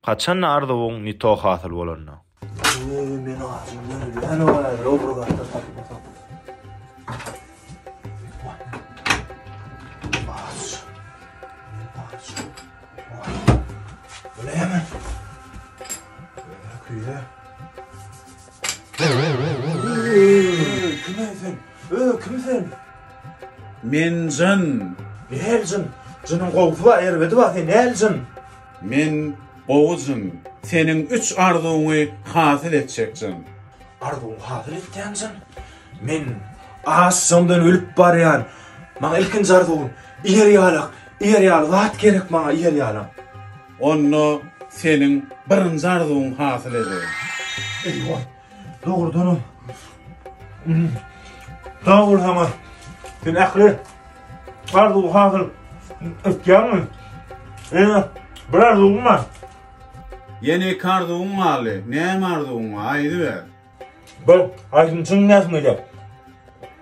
Haçanda arzuwyň ne to hasyl bolanda. Eý men açym ölýän owaý lowra garda tapmasam. Aç. Aç. Öleýämi? Öküýe. Kime sen? Ö, kim sen? Men jyn. Näl jyn? Jynyň gowsy bar, erbedi bar, sen näl jyn? Men, Gowy jyn, seniň üç arzuwyňy hasyl etjek jyn. Arzuwyňy hasyl etýän jyn? Men açjaňdan ölüp barýan. Maňa ilkinji arzuwym, ýer ýalak, ýer ýaly zat gerek maňa, ýer ýalak. Onda seniň birinji arzuwyňy hasyl edeýin. Eý, goý. Dogrudanam. Sag bol sana. Sen ähli arzuw hasyl etýärmi? Ýene bir arzuwum bar. Ýene iki arzuwuň galdy. Näme arzuwuň bar? Aýdyber. Bir aýdymçyň näsini edýär?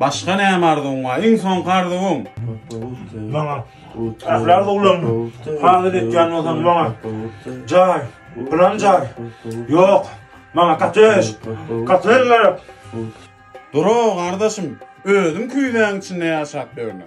Başga näme arzuwyň bar? Iň soňky arzuwyň? Maňa ähli arzuwlarymy hasyl etýän bolsaň, maňa jaý, plan jaý. Ýok, maňa kottej, kottej gerek. Dura, gardaşym, özüň küýzäň içinde ýaşap ýörme.